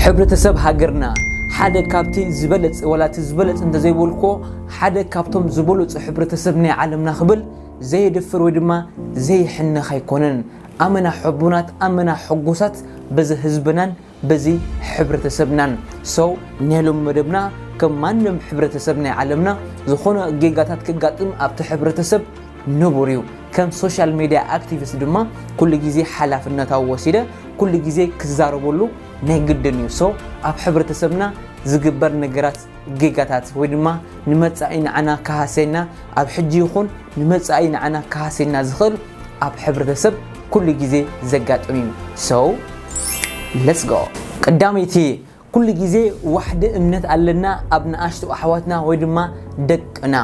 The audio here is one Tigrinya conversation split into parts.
ሕብረተሰብ ሃገርና ሓደ ካብቲ ዝበለጽ ወላ እቲ ዝበለጽ እንተዘይበልኩዎ ሓደ ካብቶም ዝበለጹ ሕብረተሰብ ናይ ዓለምና ክብል ዘየድፍር ወይ ድማ ዘይሕነኽ ኣይኮነን። ኣመና ሕቡናት ኣመና ሕጉሳት በዚ ህዝብናን በዚ ሕብረተሰብናን። So ናይ ሎሚ መደብና ከም ማንም ሕብረተሰብ ናይ ዓለምና ዝኾነ ጌጋታት ከጋጥም ኣብቲ ሕብረተሰብ ንቡር እዩ። ከም ሶሻል ሜድያ ኣክቲቪስት ድማ ኩሉ ግዜ ሓላፍነታዊ ወሲደ ኩሉ ግዜ ክዛረበሉ ናይ ግድን እዩ። ሶ ኣብ ሕብረተሰብና ዝግበር ነገራት ጌጋታት ወይ ድማ ንመጻኢ ንዓና ክሃሰየና ኣብ ሕጂ ይኹን ንመጻኢ ንዓና ክሃሰየና ዝኽእል ኣብ ሕብረተሰብ ኩሉ ግዜ ዘጋጥም እዩ። ሶ ሌትስ ጎ ቀዳመይቲ ኩሉ ግዜ ዋሕዲ እምነት ኣለና ኣብ ንኣሽቱ ኣሕዋትና ወይ ድማ ደቅና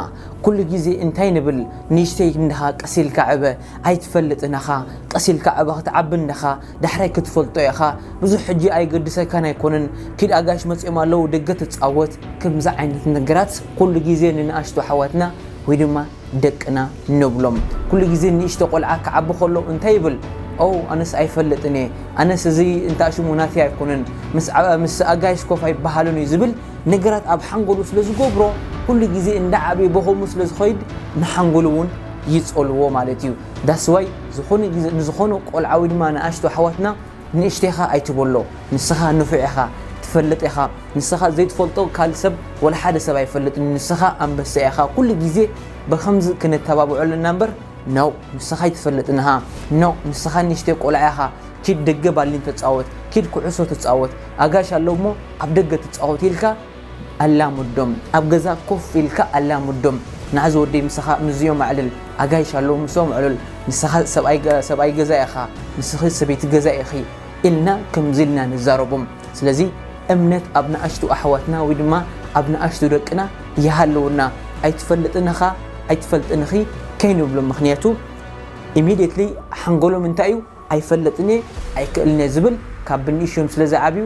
ኩሉ ግዜ እንታይ ንብል ንእሽተይ እንድኻ ቀስ ኢልካ ዕበ ኣይትፈልጥን እኻ ቀስ ኢልካ ዕበ ክትዓቢ እንድኻ ዳሕራይ ክትፈልጦ ኢኻ ብዙሕ ሕጂ ኣይገድሰካን ኣይኮነን ኪድ ኣጋይሽ መጽዮም ኣለዉ ደገ ትጻወት ክምዚ ዓይነት ነገራት ኩሉ ግዜ ንንኣሽቱ ኣሕዋትና ወይ ድማ ደቅና ንብሎም ኩሉ ግዜ ንእሽቶ ቆልዓ ክዓቢ ከሎ እንታይ ይብል ኦው ኣነስ ኣይፈልጥን እየ ኣነስ እዚ እንታሽሙ ናተይ ኣይኮነን ምስ ኣጋይሽ ኮፍ ኣይበሃልን እዩ ዝብል ነገራት ኣብ ሓንጎሉ ስለ ዝገብሮ ኩሉ ግዜ እንዳዓበየ በኸሙ ስለ ዝኸይድ ንሓንጎሉ እውን ይጸልዎ ማለት እዩ ዳስዋይ ዝኾነ ግዜ ንዝኾነ ቆልዓ ወይ ድማ ንኣሽቶ ኣሕዋትና ንእሽተይ ኢኻ ኣይትበሎ ንስኻ ንፉዕ ኢኻ ትፈልጥ ኢኻ ንስኻ ዘይትፈልጦ ካልእ ሰብ ወላ ሓደ ሰብ ኣይፈልጥን ንስኻ ኣንበሳ ኢኻ ኩሉ ግዜ ብኸምዚ ክንተባብዖ ኣለና እምበር ኖእ ንስኻ ኣይትፈልጥን እኻ ኖእ ንስኻ ንእሽተይ ቆልዓ ኢኻ ኪድ ደገ ባሊን ተጻወት ኪድ ኩዕሶ ተጻወት ኣጋይሽ ኣለዉሞ ኣብ ደገ ትጻወት ኢልካ ኣላምዶም ኣብ ገዛ ኮፍ ኢልካ ኣላምዶም ናኣዚ ወደይ ምሳካ ምዚኦም ኣዕልል ኣጋይሽ ኣለው ምሶኦም ኣዕልል ንስካ ሰብኣይ ገዛ ኢካ ንስኪ ሰበይቲ ገዛ ኢኪ ኢልና ከምዚ ኢልና ንዛረቦም ስለዚ እምነት ኣብ ናኣሽቱ ኣሕዋትና ወይ ድማ ኣብ ናኣሽቱ ደቅና ይሃልውና ኣይትፈልጥን እካ ኣይትፈልጥን እኪ ከይንብሎም ምክንያቱ ኢሚድየትሊ ሓንጎሎም እንታይ እዩ ኣይፈልጥን እየ ኣይክእልን እየ ዝብል ካብ ብንእሽዮም ስለ ዝዓብዩ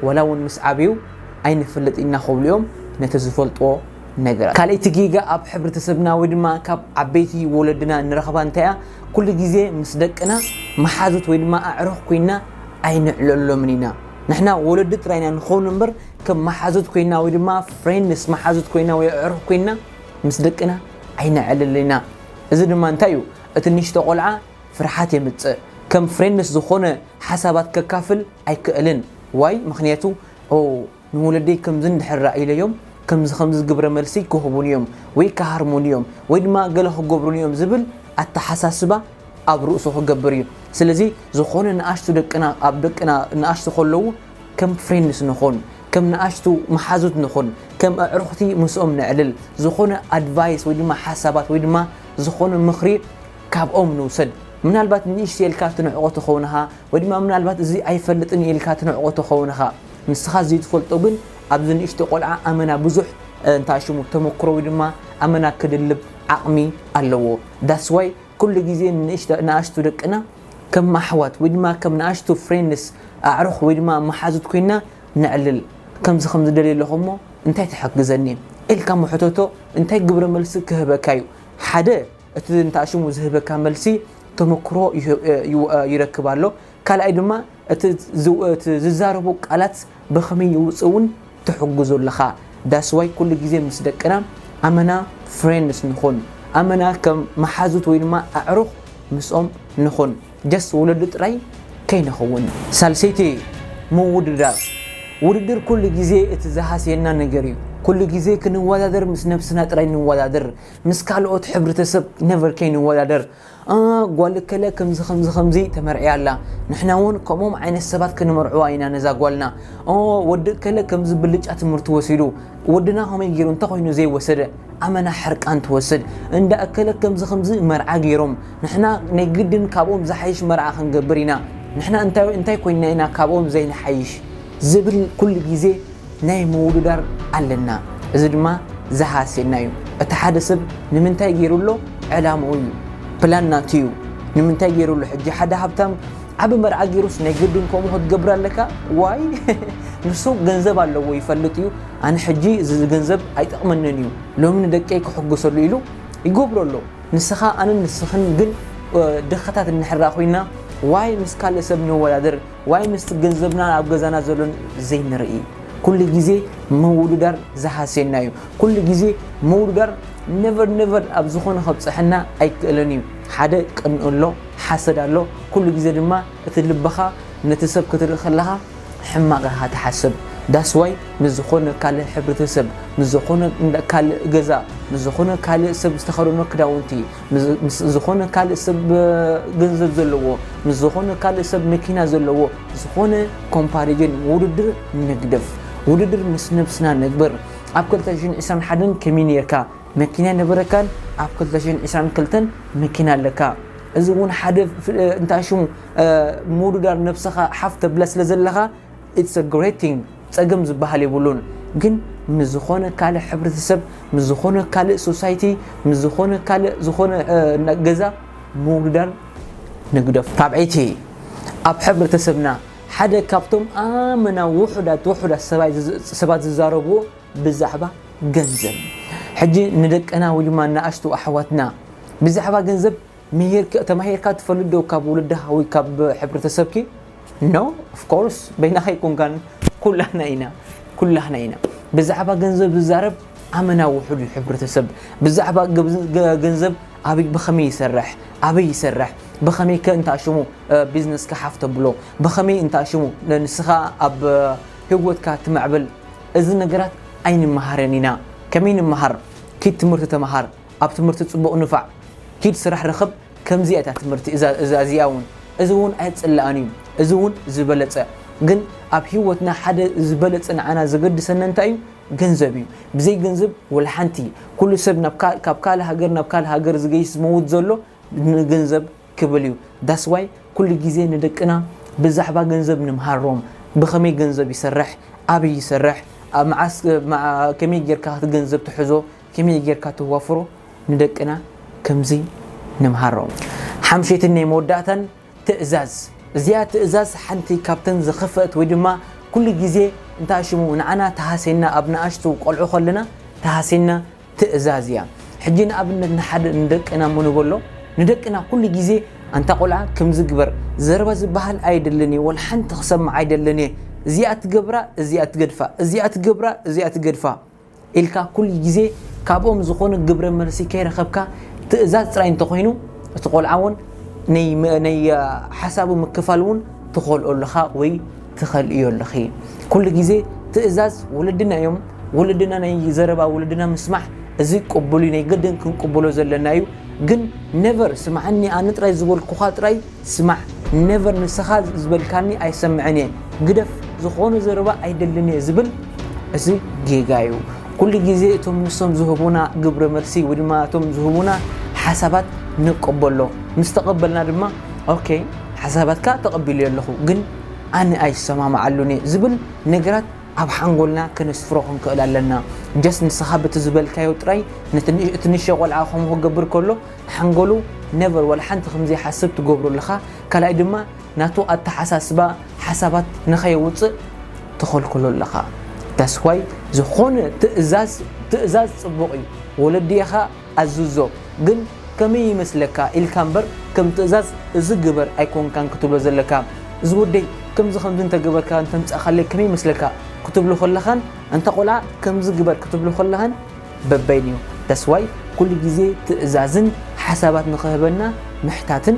ወላ ውን ምስ ዓብዩ ኣይንፈልጥ ኢና ክብሉ ዮም ነቲ ዝፈልጥዎ ነገራት። ካልኣይቲ ጌጋ ኣብ ሕብረተሰብና ወይ ድማ ካብ ዓበይቲ ወለድና ንረኽባ እንታይ እያ ኩሉ ግዜ ምስ ደቅና መሓዙት ወይ ድማ ኣዕሩኽ ኮይና ኣይንዕለሎምን ኢና። ንሕና ወለዲ ጥራይ ኢና ንኸውን እምበር ከም መሓዙት ኮይና ወይ ድማ ፍሬንድስ መሓዙት ኮይና ወይ ኣዕሩኽ ኮይና ምስ ደቅና ኣይነዕልልን ኢና። እዚ ድማ እንታይ እዩ እቲ ንእሽቶ ቆልዓ ፍርሓት የምጽእ ከም ፍሬንድስ ዝኮነ ሓሳባት ከካፍል ኣይክእልን ዋይ ምክንያቱ ኦው ንወለደይ ከምዚ እንድሕር ራኢለዮም ከምዚ ከምዚ ግብረ መልሲ ክህቡኒ እዮም ወይ ክሃርሙኒ እዮም ወይ ድማ ገለ ክገብሩኒ እዮም ዝብል ኣተሓሳስባ ኣብ ርእሱ ክገብር እዩ ስለዚ ዝኮነ ንኣሽቱ ደቅና ኣብ ደቅና ንኣሽቱ ከለዉ ከም ፍሬንድስ ንኹን ከም ንኣሽቱ መሓዙት ንኹን ከም ኣዕሩኽቲ ምስኦም ነዕልል ዝኮነ ኣድቫይስ ወይ ድማ ሓሳባት ወይ ድማ ዝኮነ ምክሪ ካብኦም ንውሰድ። ምናልባት ንእሽተይ ኢልካ ትንዕቆ ትኸውን እኻ ወይ ድማ ምናልባት እዚ ኣይፈልጥን እዩ ኢልካ ትንዕቆ ትኸውን እኻ። ንስኻ ዝይትፈልጦ ግን ኣብዚ ንእሽቶ ቆልዓ ኣመና ብዙሕ እንታይ ሽሙ ተመክሮ ወይ ድማ ኣመና ክድልብ ዓቕሚ ኣለዎ። That's why ኩሉ ግዜ ንንእሽተ ንኣሽቱ ደቅና ከም ኣሕዋት ወይ ድማ ከም ንኣሽቱ ፍሬንድስ ኣዕሩኽ ወይ ድማ መሓዙት ኮይና ነዕልል። ከምዚ ከምዚ ደልየ ኣለኹ እሞ እንታይ ትሕግዘኒ? ኢልካ እሞ ሕተቶ እንታይ ግብረ መልሲ ክህበካ እዩ ሓደ። እቲ ንታ ሽሙ ዝህበካ መልሲ ተመክሮ ይረክብ ኣሎ ካልኣይ ድማ እቲ ዝዛረቡ ቃላት ብከመይ ይውፅ እውን ትሕግዞ ኣለካ ዳስዋይ ኩሉ ግዜ ምስ ደቅና ኣመና ፍሬንድስ ንኩን ኣመና ከም መሓዙት ወይ ድማ ኣዕሩክ ምስኦም ንኩን ጀስት ወለዲ ጥራይ ከይንከውን ሳልሰይቲ ምውድዳር ውድድር ኩሉ ግዜ እቲ ዝሃስየና ነገር እዩ ኩሉ ግዜ ክንወዳደር ምስ ነብስና ጥራይ ንወዳደር ምስ ካልኦት ሕብርተሰብ ነቨር ከይንወዳደር እ ጓል እከለ ከምዚ ከምዚ ከምዚ ተመርዕያ ኣላ ንሕና እውን ከምኦም ዓይነት ሰባት ክንመርዕዋ ኢና ነዛ ጓልና እ ወዲ እከለ ከምዚ ብልጫ ትምህርቲ ወሲዱ ወድና ከመይ ገይሩ እንተኮይኑ ዘይወሰደ ኣመና ሕርቃን ትወስድ እንዳ እከለ ከምዚ ከምዚ መርዓ ገይሮም ንሕና ናይ ግድን ካብኦም ዝሓይሽ መርዓ ክንገብር ኢና ንሕና እንታይ እንታይ ኮይንና ኢና ካብኦም ዘይንሓይሽ ዝብል ኩሉ ግዜ ናይ ምውድዳር ኣለና እዚ ድማ ዝሃስየና እዩ እቲ ሓደ ሰብ ንምንታይ ገይሩ ኣሎ ዕላምኡ እዩ ፕላን ናቱ እዩ ንምንታይ ገይሩ ኣሎ ሕጂ ሓደ ሃብታም ዓቢ መርዓ ገይሩስ ናይ ግድን ከምኡ ክትገብር ኣለካ ዋይ ንሱ ገንዘብ ኣለዎ ይፈልጥ እዩ ኣነ ሕጂ እዚ ገንዘብ ኣይጠቕመንን እዩ ሎሚ ንደቀይ ክሕግሰሉ ኢሉ ይገብሮ ኣሎ ንስኻ ኣንን ንስኽን ግን ድኻታት እንሕራ ኮይና ዋይ ምስ ካልእ ሰብ ንወዳደር ዋይ ምስቲ ገንዘብናን ኣብ ገዛና ዘሎን ዘይንርኢ ኩሉ ግዜ ምውድዳር ዝሃስየና እዩ ኩሉ ግዜ ምውድዳር ነቨር ነቨር ኣብ ዝኾነ ከብፅሐና ኣይክእልን እዩ ሓደ ቅንእ ኣሎ ሓሰድ ኣሎ ኩሉ ግዜ ድማ እቲ ልብኻ ነቲ ሰብ ክትርኢ ከለኻ ሕማቕ ኢኻ ትሓስብ ዳስዋይ ምስ ዝኾነ ካልእ ሕብረተሰብ ምስ ዝኾነ ካልእ ገዛ ምስ ዝኾነ ካልእ ሰብ ዝተኸደኖ ክዳውንቲ ምስ ዝኾነ ካልእ ሰብ ገንዘብ ዘለዎ ምስ ዝኾነ ካልእ ሰብ መኪና ዘለዎ ዝኾነ ኮምፓሪጅን ውድድር ንግደፍ ውድድር ምስ ነብስና ነግበር ኣብ 2021 ከመይ ነርካ መኪና ነበረካን ኣብ 2022 መኪና ኣለካ እዚ እውን ሓደ እንታ ሽሙ ምውድዳር ነብስኻ ሓፍ ተብላ ስለ ዘለኻ It's a great thing ጸገም ዝበሃል የብሉን ግን ምስ ዝኾነ ካልእ ሕብረተሰብ ምስ ዝኾነ ካልእ ሶሳይቲ ምስ ዝኾነ ካልእ ዝኾነ ገዛ ምውዳር ንግደፎ። ራብዐይቲ፣ ኣብ ሕብረተሰብና ሓደ ካብቶም ኣመና ውሑዳት ውሑዳት ሰባት ዝዛረብዎ ብዛዕባ ገንዘብ ሕጂ ንደቅና ወይ ድማ ንኣሽቱ ኣሕዋትና ብዛዕባ ገንዘብ ምሂርኪ ተማሂርካ ትፈልጥ ዶ ካብ ውልድካ ወይ ካብ ሕብረተሰብኪ no of course በይናካ ኣይኮንካን ኩላህና ኢና ኩላህና ኢና ብዛዕባ ገንዘብ ዝዛረብ ኣመና ውሑድ እዩ ሕብረተሰብ ብዛዕባ ገንዘብ ኣበይ ብኸመይ ይሰርሕ ኣበይ ይሰርሕ ብኸመይ ከ እንታ ሽሙ ቢዝነስ ክሓፍ ተብሎ ብኸመይ እንታ ሽሙ ንስኻ ኣብ ህይወትካ ትምዕብል እዚ ነገራት ኣይንመሃረን ኢና ከመይ ንምሃር ኪድ ትምህርቲ ተምሃር ኣብ ትምህርቲ ጽቡቅ ንፋዕ ኪድ ስራሕ ርኽብ ከምዚ እያ እታ ትምህርቲ እዛ እዛ እዚኣ እውን እዚ እውን ኣይጽላኣን እዩ እዚ እውን ዝበለጸ ግን ኣብ ሂወትና ሓደ ዝበለጸ ንዓና ዘገድሰና እንታይ እዩ ገንዘብ እዩ ብዘይ ገንዘብ ወልሓንቲ ኩሉ ሰብ ካብ ካልእ ሃገር ናብ ካልእ ሃገር ዝገይሽ ዝመውት ዘሎ ንገንዘብ ክብል እዩ ዳስዋይ ኩሉ ግዜ ንደቅና ብዛዕባ ገንዘብ ንምሃሮም ብኸመይ ገንዘብ ይሰርሕ ኣብይ ይሰርሕ መዓስ ከመይ ጌርካ ገንዘብ ትሕዞ ከመይ ጌርካ ተዋፍሮ ንደቅና ከምዚ ንምሃሮም። ሓምሸይትን ናይ መወዳእታን ትእዛዝ። እዚኣ ትእዛዝ ሓንቲ ካብተን ዝኸፈእት ወይ ድማ ኩሉ ግዜ እንታይ ሽሙ ንዓና ትሃሴና ኣብ ንኣሽቱ ቆልዑ ከለና ትሃሴና ትእዛዝ እያ። ሕጂ ንኣብነት ንሓደ ንደቅና እሞ ንበሎ ንደቅና ኩሉ ግዜ ኣንታ ቆልዓ ከምዚ ግበር ዘረባ ዝበሃል ኣይደልን እየ ወላ ሓንቲ ክሰምዕ ኣይደልን እየ እዚኣ ትገብራ እዚኣ ትገድፋ እዚኣ ትገብራ እዚኣ ትገድፋ ኢልካ ኩሉ ግዜ ካብኦም ዝኾነ ግብረ መልሲ ከይረኸብካ ትእዛዝ ጥራይ እንተኾይኑ እቲ ቆልዓ ውን ናይ ሓሳቡ ምክፋል ውን ትኸልኦ ኣለኻ ወይ ትኸልእዮ ኣለኺ ኩሉ ግዜ ትእዛዝ ወለድና እዮም ወለድና ናይ ዘረባ ወለድና ምስማዕ እዚ ቅቡል እዩ ናይ ገድን ክንቅብሎ ዘለና እዩ ግን ነቨር ስምዓኒ ኣነ ጥራይ ዝበልኩኻ ጥራይ ስማዕ never ንስኻ ዝበልካኒ ኣይሰምዕን እየ ግደፍ ዝኾነ ዘረባ ኣይደልን እየ ዝብል እዚ ጌጋ እዩ ኩሉ ግዜ እቶም ንሶም ዝህቡና ግብረ መልሲ ወይ ድማ እቶም ዝህቡና ሓሳባት ንቀበሎ ምስ ተቐበልና ድማ ኦኬ ሓሳባትካ ተቐቢሉ ኣለኹ ግን ኣነ ኣይሰማማዓሉን እየ ዝብል ነገራት ኣብ ሓንጎልና ከነስፍሮ ክንክእል ኣለና ጀስ ንስኻ በቲ ዝበልካዮ ጥራይ እቲ ንእሽቶ ቆልዓ ከምኡ ክገብር ከሎ ሓንጎሉ ነቨር ዋላ ሓንቲ ከም ዘይሓስብ ትገብሮ ኣለኻ ካልኣይ ድማ ናቱ ኣተሓሳስባ ሓሳባት ንኸየውጽእ ትኸልክሎ ኣለኻ that's why ዝኾነ ትእዛዝ ትእዛዝ ጽቡቕ እዩ ወለድኻ ኣዝዞ ግን ከመይ ይመስለካ ኢልካ እምበር ከም ትእዛዝ እዚ ግበር ኣይኮንካን ክትብሎ ዘለካ እዚ ወደይ ከምዚ ከምዚ እንተገበርካ እንተምጻእካለይ ከመይ ይመስለካ ክትብሎ ከለኻን እንተ ቆልዓ ከምዚ ግበር ክትብሎ ከለኻን በበይኑ ዳስዋይ ኩሉ ግዜ ትእዛዝን ሓሳባት ንክህበና ምሕታትን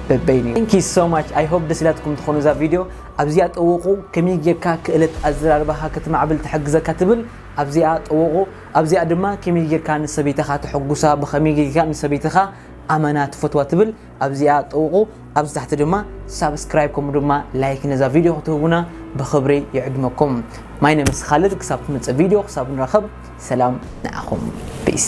በበይኑ። Thank you so much I hope ደስ ኢላትኩም ትኾኑ እዛ ቪድዮ ኣብዚኣ ጠውቑ ከመይ ጌርካ ክእለት ኣዘራርባኻ ክትማዕብል ትሕግዘካ ትብል ኣብዚኣ ጠውቑ ኣብዚኣ ድማ ከመይ ጌርካ ንሰበይትኻ ተሕጉሳ ብኸመይ ጌርካ ንሰበይትኻ ኣመና ትፈትዋ ትብል ኣብዚኣ ጥውቑ ኣብዚ ታሕቲ ድማ ሳብስክራይብ ከምኡ ድማ ላይክ ነዛ ቪድዮ ክትህቡና ብክብሪ ይዕድመኩም ማይ ነመስኻልድ ክሳብ ትምፅእ ቪድዮ ክሳብ ንረኸብ ሰላም ንዓኹም ፒስ